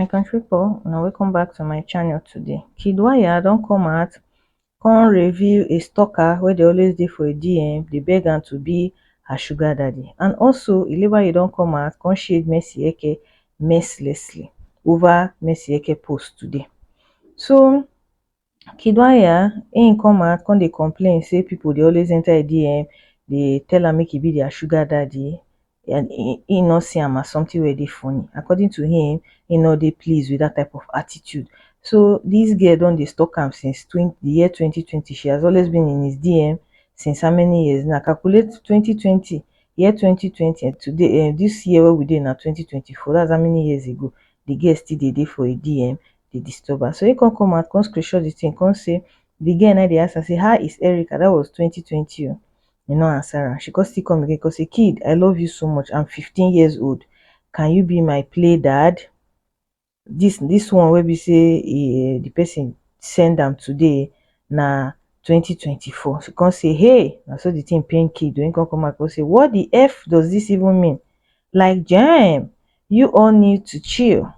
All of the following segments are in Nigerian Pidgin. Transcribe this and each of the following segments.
my country people now welcome back to my channel today kid wire don't come out come reveal a stalker where they always dey for a dm They beg am to be her sugar daddy and also ileba you don't come out come shade mercy eke mercilessly over mercy eke post today so Kiddwaya im come out come dey complain say people dey always enter im DM dey tell am make he be their sugar daddy and he no see am as something wey dey funny. According to him, he no dey pleased with that type of attitude. So this girl don dey stalk am since twen the year twenty twenty. She has always been in his DM since how many years now? Calculate twenty twenty, year twenty twenty and today um this year wey we dey now twenty twenty four that's how many years ago the girl still dey dey for im DM. dey disturb am so he come come out come screenshot the thing come say the girl na dey ask am say how is Erica that was twenty twenty o he no answer am she come still come again come say kid I love you so much I'm fifteen years old can you be my play dad this this one wey be say e the person send am today na twenty twenty four she come say hey na so the thing pain kid o he come come out come say what the eff does this even mean like jaim you all need to chill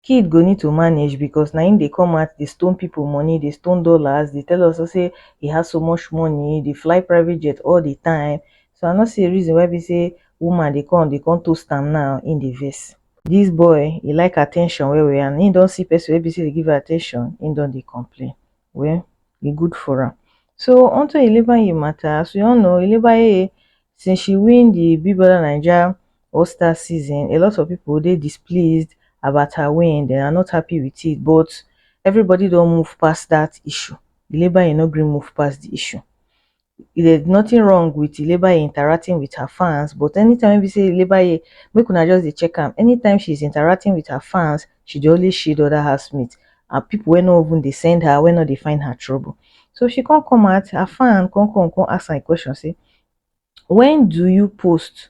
kid go need to manage because na him dey come out dey stone people money dey stone dollars dey tell us us say he has so much money dey fly private jet all the time so i no see the reason why be say woman dey come dey come toast am now him dey vex this boy he like attention well well and him don see person wey be say dey give am attention him don dey complain well e good for am so on to Ilebaye matter as we all know Ilebaye since she win the Big Brother Naija All Star season a lot of people dey displeased about her win they are not happy with it but everybody don move past that issue Ilebaye no gree move past the issue there's nothing wrong with Ilebaye interacting with her fans, but anytime we be say Ilebaye, make una just dey check am. Anytime she's interacting with her fans, she dey always shield other housemates and people wey no even dey send her, wey no dey find her trouble. So she can't come out, her fan can't come, can't ask her a question, say, when do you post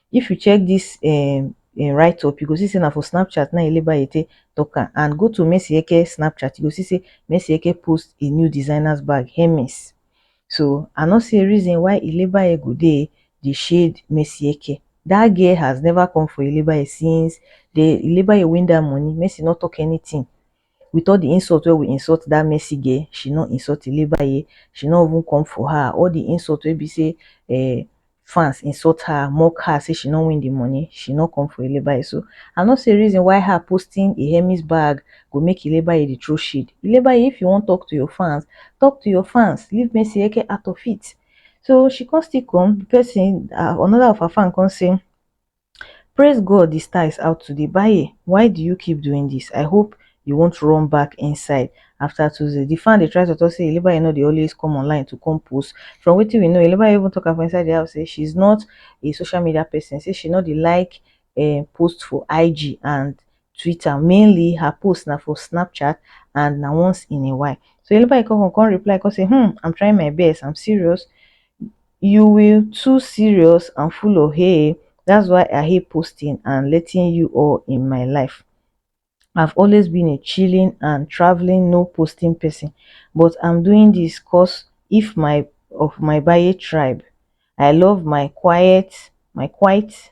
If you check this um im write up you go see say na for Snapchat na Elebanye take talk am and go to Mercy Eke Snapchat you go see say Mercy Eke post a new designers bag Hermes so I no see a reason why Elebanye go dey dey shade Mercy Eke that girl has never come for Elebanye since the Elebanye win that money Mercy no talk anything With all the insult wey we insult that Mercy girl, she no insult Ilebaye, she no even come for her. All the insult wey be say eh, fans insult her, mock her, say she no win the money, she no come for Ilebaye. So, I no see reason why her posting a Hermes bag go make Ilebaye dey throw shade. Ilebaye, if you wan talk to your fans, talk to your fans, leave Mercy Eke out of it. So, she come still come, the person, another of her fan come say, Praise God the star is out today Baye why do you keep doing this I hope you won't run back inside after Tuesday. The fan they try to talk say Eleba you know they always come online to come post. From what we know, Eleba even talk about inside the house say she's not a social media person. Say she not the like uh, post for IG and Twitter mainly her post na for Snapchat and na once in a while. So Yellow Bike come come reply come say hmm I'm trying my best I'm serious you will too serious and full of hey that's why I hate posting and letting you all in my life. I've always been a chilling and traveling no posting person but I'm doing this cause if my of my Baye tribe. I love my quiet my quiet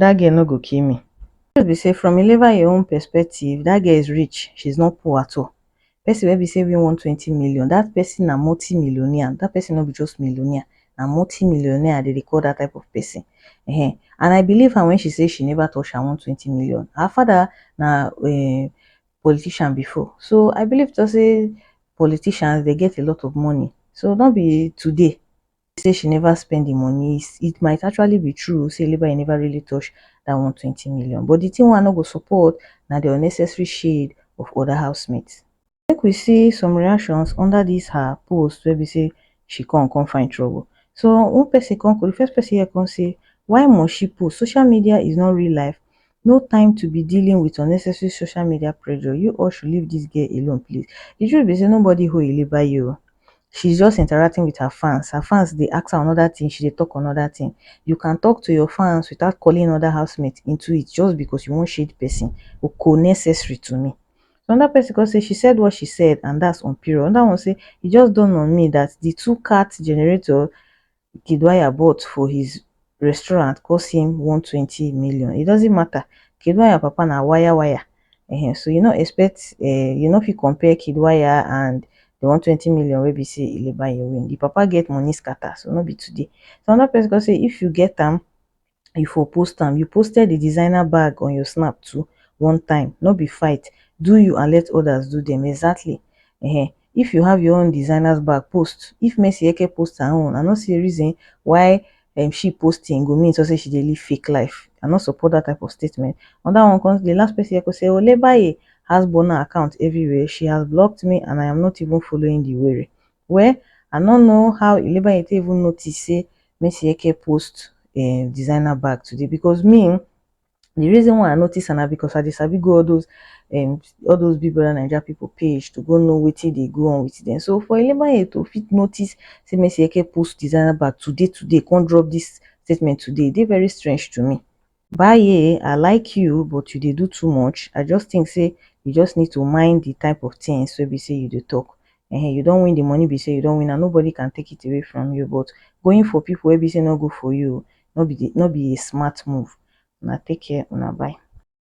dat girl no go kill me. The truth be say from Ilevaye own perspective dat girl is rich she is not poor at all person wey be say win one twenty million dat person na multi millionaire dat person no be just millionaire na multi millionaire dem dey call dat type of person um and I believe am when she say she never touch her one twenty million her father na um politician before so I believe to say politicians dem get a lot of money so no be today say she neva spend di money it might actually be true say labour neva really touch dat one hundred and twenty million but di tin wey I no go support na di unnecessary shade of oda housemates. Make we see some reactions under dis her post wey be say she come come find trouble so one pesin come di first pesin here come say why must she post social media is not real life no time to be dealing with unnecessary social media pressure you all should leave this girl alone please the truth be say nobody hold Ile bayi o she's just interacting with her fans her fans dey ask her another thing she dey talk another thing you can talk to your fans without calling another housemate into it just because you wan shade person o ko necessary to me another person come say she said what she said and that's on period another one say e just dawn on me that the two cat generator Kiduaya bought for his restaurant cost him 120 million. It doesn't matter. Kiduaya papa na wire wire. Uh-huh. So you no expect, uh, you no fit compare Kiduaya and the 120 million wey be say Ilebaye win. The papa get money scatter, so no be today. So another person go say if you get am, you for post am you posted the designer bag on your snap too one time no be fight do you and let others do them exactly um if you have your own designers bag post if mercy eke post her own i no see reason why um she posting go mean so say she dey live fake life i no support that type of statement on that one comes the last person eke say olebaye has burner account everywhere she has blocked me and i am not even following the were Well, I no know how Ilebaye take even notice say Mesieke post em designer bag today because me um the reason why I notice am na because I dey sabi go all those em all those Big Brother Naija people page to go know wetin dey go on with dem. So for Ilebaye to fit notice say Mesieke post designer bag today today come drop this statement today, e dey very strange to me. Bae I like you but you dey do too much, I just think say you just need to mind the type of things wey be say you dey talk um you don win the money be say you don win am nobody can take it away from you but going for people wey be say no good for you no be the no be a smart move, una take care una bye.